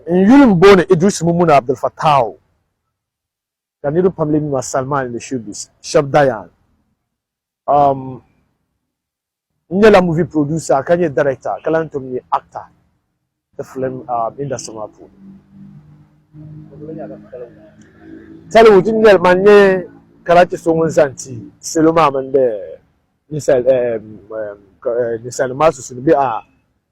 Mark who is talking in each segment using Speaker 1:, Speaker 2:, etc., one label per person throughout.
Speaker 1: n yuli m booni Idris Mummuni Abdul Fattaahu ka niriba pam lee mi ma Salman ni Showbiz shɛb Dayan um, n nyɛla movie producer ka nyɛ director ka lahi tom nyɛ actor ti film um, industry maa puuni Tollywood n nyɛli man nyɛ karachi so ŋun zan ti salo maa mini bɛ ninsal um, um, eh, ninsalinima maa susuni bɛ a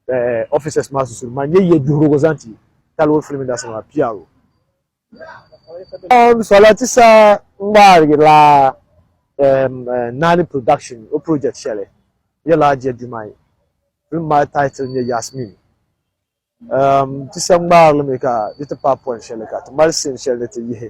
Speaker 1: eh, officers maa susuri maa nyɛ yɛ duhirigu zaŋ ti Talwar Film Industry maa PRO. Um, Salati sa ŋmaarigi la um, eh, Nani Production o project shɛli yɛla Ajiya Dumai. Film maa title nyɛ Yasmin. Um, ti sa ŋmaarili mi ka di ti paai point shɛli ka ti mali scene shɛli ni ti yihi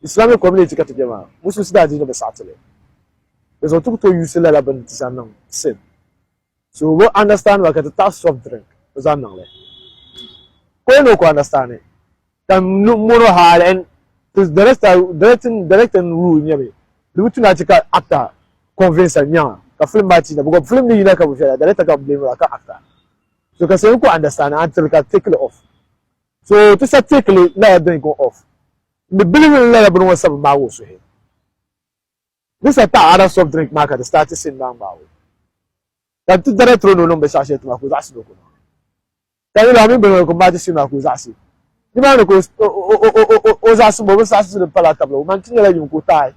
Speaker 1: Islamic Community ka ti be maa, Musulinsi daa di ni bɛ saɣi ti li. Di zuɣu ti ku tooi yuusi lala bini ti zaŋ niŋ sin. So o bi understand ba ka ti taɣi soft drink o zaŋ niŋ li. Ka o yɛn ni o ku understand li. Ka m mono hal and ti director directing rule n-nyɛ mi. Di bi tu ni a che ka actor convince a nyaŋa ka film maa ti yina because film ni yina ka bi viɛla director ka bi blame ra ka actor. So ka so yɛn ku understand a n-tiri ka take li off. So ti sa teekili lala dini go off ni bilibili ni lala bini ŋɔ sabi maagi o suhi. Di sa taɣi other soft drink maa ka di start sin maa ŋmaagi o. Ka n ti dana tiri o ni o niŋ binshɛɣu shɛli ti maa ka o zaɣisi ni o koma. Ka yuli a mini bini ŋɔ ni ka o maati sin maa ka o zaɣisi. Ni maa ni ka o zaɣisi ma o bi saɣisi di pala tabili o man ti nyɛla yuŋ ka o taai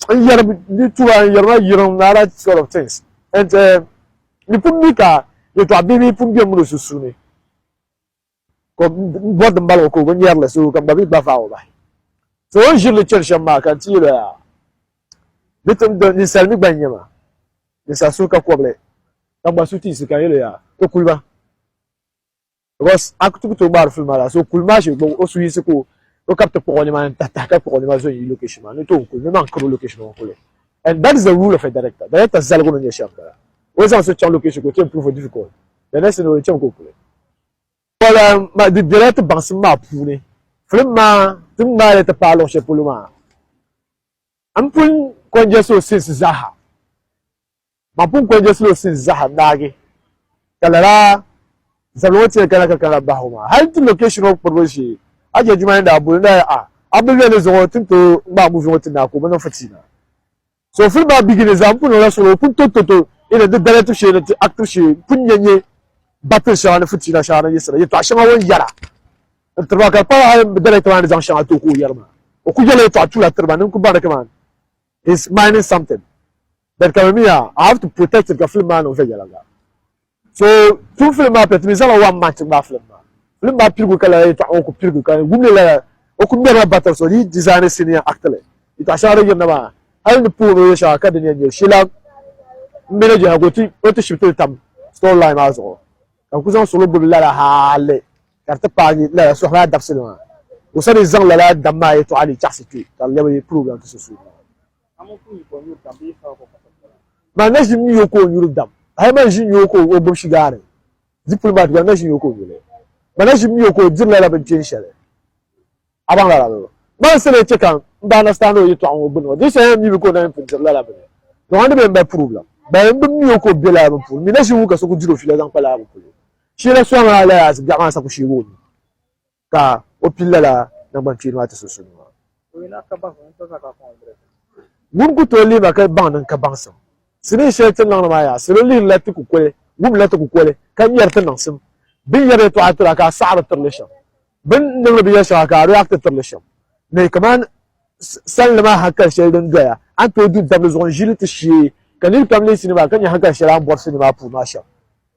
Speaker 1: n yɛri di tuba n yɛri ma yirim ni other sort of things and di pun mi ka yɛtɔɣa bihi bihi pun bɛ mini o sunsuuni. ka bɔri din bala ŋɔ ka o bi nyɛri li so ka m ba mi gba vaai o bahi so o ni ʒiri li chani shɛm maa ka n ti yɛl o yaa di ti ninsali mi gba n nyɛ ma ninsali suhu ka kɔbili ka gba suhu ti yiɣisi ka n yɛl o yaa ti kuli ma because a ti ku tooi ŋmaari fili maa la so kuli maa shee gba o suhu yiɣisi ka o o ka bi ti kpuɣi o nimaani tahi tahi ka kpuɣi o nima zo n yi location maa ni tooi kuli mi maa n kari o location maa n kuli and that is the rule of a director director zaligu ni nyɛ shɛm bala o zaŋ so chaŋ location ka o ti improve o difficult Di ni si ni o ni cham ka o kuli. Pɔla di bela ti baŋsim maa puuni. Filim maa ti ŋmaai li ti paai luɣ shɛli polo maa m pun kɔnjɛsi o sinsi zaaha. Mam pun kɔnjɛsila o sinsi zaaha n-naagi ka lala zabili ŋɔ tiri kana ka kana bahi o maa. Hal ti location ŋɔ kpuribu shee Hajiya Jumaani daa boli n-daa yɛli, A, a bi lɔli zuɣu ti ni tooi ŋmaai movie ŋɔ ti naai ka o bi niŋ fitina. So fil maa bigini zaa n pun niŋla solo pun to to to ini di daliya tibu shee ni ti actibu shee n pun nya nyɛ battle shɛŋa ni fitiina shɛŋa ni yiɣisira yɛtɔɣa shɛŋa o ni yɛra n tiriba ka di pala hali bi daliya maa ni zaŋ shɛŋa ti o ka o yɛri maa o ku yɛla yɛtɔɣa tula tiriba ni n ku baŋ ni kaman he's mining something but ka mi mi yaa I have to protect it ka film maa niŋ viɛnyɛliŋga. so tum filim maa pɛ timi zaŋla wan man ti ŋmaa filim maa filim maa pirigu ka lala yɛtɔɣa ŋɔ ku pirigu ka wumli lala o ku ŋmɛrila battle so di dizaani siniya actili yɛtɔɣa shɛŋa din yirina maa hali ni puhiri o yɛ shɛŋa ka din yɛn nyɛ shila n mini jɛha ka o ti shibiti li tam story line maa zuɣu ka ku zaŋ solo gbubi lala hali ka di ti paagi lala sohi maa dabisili maa o sani zaŋ lala dam maa yɛtɔɣa ni chaɣasi kpɛ ka lɛbi program ti so suuni Maa na ʒi nyo ka o nyuri dam. Hali ma ʒi nyo ka o gbubi shigaari. Zipuli maa tuba na ʒi nyo ka o nyuli. Ma na ʒi nyo ka o diri lala binkpini shɛli. A baŋ lala bɛ? Ma n sani chɛ ka n ba understand o yɛtɔɣa ŋɔ gbinni ŋɔ. Di shɛli yɛn mi mi ka o na yɛn pun diri lala bini. Dɔɣi n ni be n ba purubilim. Bali m bi nyo ka o be lala bini puuni. M mi na ʒi ŋun ka so ku diri o fiila zaŋ kpa lala bini puuni. Sheela Suaŋa Alias biɛɣu maa sa ku sheegi o nuu. ka o pili lala nangbankpeeni maa ti sunsuuni maa. Ŋun ku tooi lihi ma ka baŋ din ka baŋsim sinii shɛli ti niŋdi maa yaa, salo lihirila ti kukoli, wumdila ti kukoli, ka ŋmɛri ti niŋsim. Bɛ ni yɛri yɛtɔɣa tira ka a saɣi di tirili shɛm, bɛ ni niŋdi binyɛr shɛŋa ka a react tirili shɛm ni kaman salinli maa hankali shɛli din doya a ni tooi du dabili zuɣu n-ʒi li ti shee, ka nir pam leei sinii maa ka nya hankali shɛli a ni bɔri sinii maa puuni maa shɛm.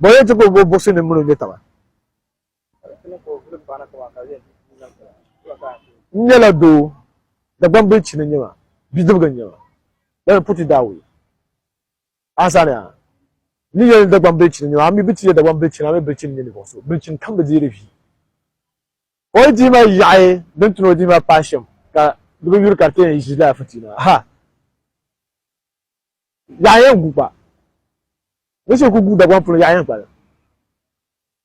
Speaker 1: Bɔ yɛn ti gbubi o buɣisi ni mini o nyɛtaba. N nyɛla doo, Dagbaŋ Bilichini n-nyɛ ma, bidibiga n-nyɛ ma, lala ni Puti daa wuhi a sani ha. N ni yɛli ni Dagbaŋ Bilichini n-nyɛ ma, a mi bi ti yɛ Dagbaŋ Bilichini, a mi Bilichini n-nyɛ ninvuɣ so, Bilichini kam bi deeri vi. O yi dihi ma yaɣi din ti ni o dihi ma paai shɛm, ka di bi yuri ka di ti yɛn ʒi lala fitiina ha. Yaɣiya gu gba. Ni so ku gu Dagbaŋ polo yaɣiya gba la,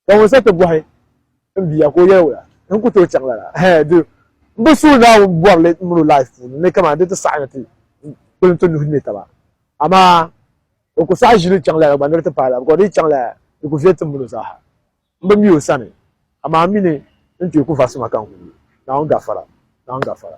Speaker 1: ka ŋun sa ti bɔhi n bia ka o yɛli wula ni n ku tooi chaŋ lala? Ɛhɛɛ di n bi suhi Naawuni bɔrili mini o life puuni ni kamani di ti saɣi ni ti kpulim ti nuhi ne taba. Amaa o ku saɣi ʒili chaŋ lala gba ni di ti paai lala bikɔs di yi chaŋ lala di ku viɛli tim mini o zaaha. M bi mi o sani, amaa m mi ni n tooi ku vasi ma ka n ku gu. Naawuni gafara, Naawuni gafara.